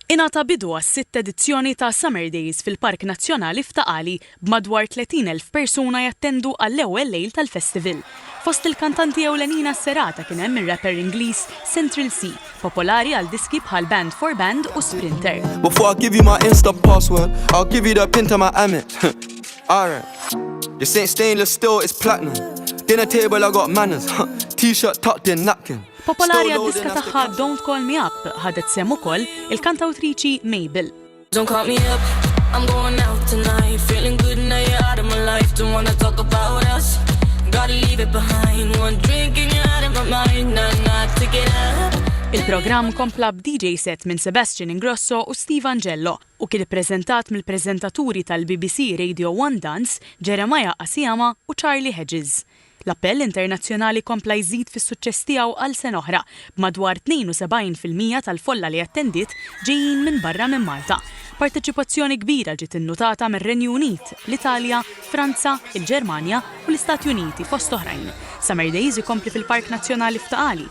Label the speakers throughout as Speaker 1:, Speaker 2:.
Speaker 1: Ingħata bidu għas-sitt edizzjoni ta' Summer Days fil-Park Nazzjonali f'Ta' Qali b'madwar 30 elf persuna jattendu għall-ewwel lejl tal-festival. Fost il-kantanti ewlenin għas-serata kien hemm ir-rapper Ingliż Central Cee, popolari għal diski bħal Band for Band u Sprinter. Before I give you my
Speaker 2: Insta password, I'll give you the pin to my Amex. Alright. This ain't stainless steel, it's platinum. Dinner table, I got manners. T-shirt tucked in, napkin. Popolari għad-diska
Speaker 1: tagħha Don't Call Me Up ħadet sehem ukoll il-kantawtriċi Mabel. Don't call me up, I'm going out
Speaker 3: tonight Feeling good now you're out of my life Don't wanna talk about us Gotta leave it behind One drink and you're out of my mind Not enough to get up Il-programm kompla
Speaker 1: b'DJ set minn Sebastian Ingrosso u Steve Angello u kien ippreżentat mill-preżentaturi tal-BBC Radio 1 Dance, Jeremiah Asiama u Charlie Hedges. L-appell internazzjonali kompla jżid fis-suċċess tiegħu għal sena oħra, b'madwar 72 fil-mija tal-folla li attendiet ġejjin minn barra minn Malta. Parteċipazzjoni kbira ġiet innutata mir-Renju Unit, l-Italja, Franza, il-Ġermanja u l-Istati Uniti fost oħrajn. Summer Days ikompli fil-Park Nazzjonali f'Ta' Qali,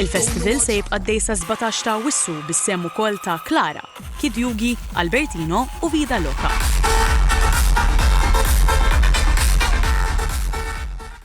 Speaker 1: Il-festival se jibqa' dej sa 17 ta' Awwissu bis-sehem ukoll ta' Klara, Kid Yugi, Albertino u Vida Loka.